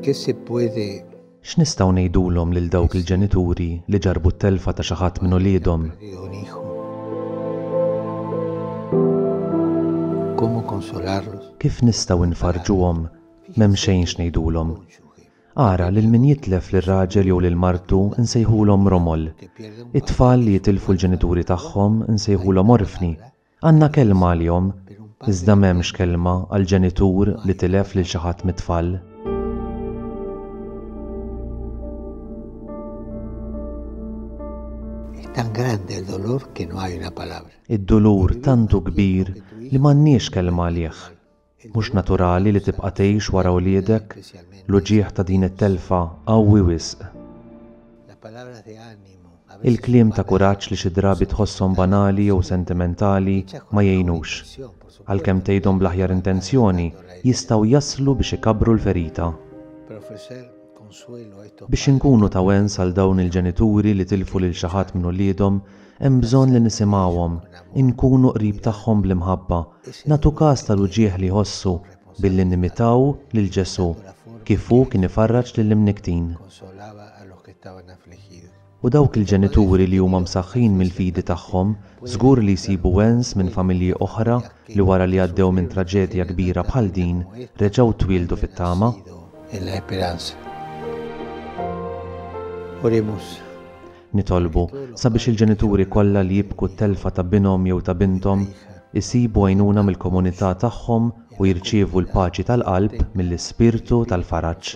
¿Qué se puede X'nistgħu ngħidulhom lil dawk il-ġenituri li ġarrbu t-telfa ta' xi ħadd minn uliedhom? Kif nistgħu nfarrġuhom? M'hemm xejn x'ngħidulhom. Ara, lil min jitlef lil raġel jew lil martu nsejħulhom romol. It-tfal li jitilfu l-ġenituri tagħhom nsejħulhom orfni. Għandna kelma għalihom, iżda m'hemmx kelma għal ġenitur li tilef lil xi ħadd mit-tfal. Tan grande il dolor que no hay una palabra. Id-dulur tantu kbir li m'għandniex kelma għalih. Mhux naturali li tibqa' tgħix wara wliedek, l-uġigħ ta' din it-telfa qawwi wisq. Il-kliem ta' kuraġġ li xi drabi tħosshom banali jew sentimentali ma jgħinux. Għalkemm tgħidhom bl-aħjar intenzjoni, jistgħu jaslu biex ikabbru l-ferita. Biex inkunu ta' wens għal dawn il-ġenituri li tilfu lil xi ħadd minn uliedhom, hemm bżonn li nisimgħuhom, inkunu qrib tagħhom bl-imħabba, nagħtu kas tal-uġigħ li jħossu billi nimitaw lil Ġesù kif hu kien ifarraġ lill-imnikktin. U dawk il-ġenituri li huma msaħħin mill-fidi tagħhom żgur li jsibu wens minn familji oħra li wara li għaddew minn traġedja kbira bħal din reġgħu twieldu fit-tama. Nitolbu sabiex il-ġenituri kollha li jibku t-telfa ta' binhom jew ta' binthom isibu għajnuna mill-komunità tagħhom u jirċievu l-paċi tal-qalb mill-Ispirtu tal-faraġ.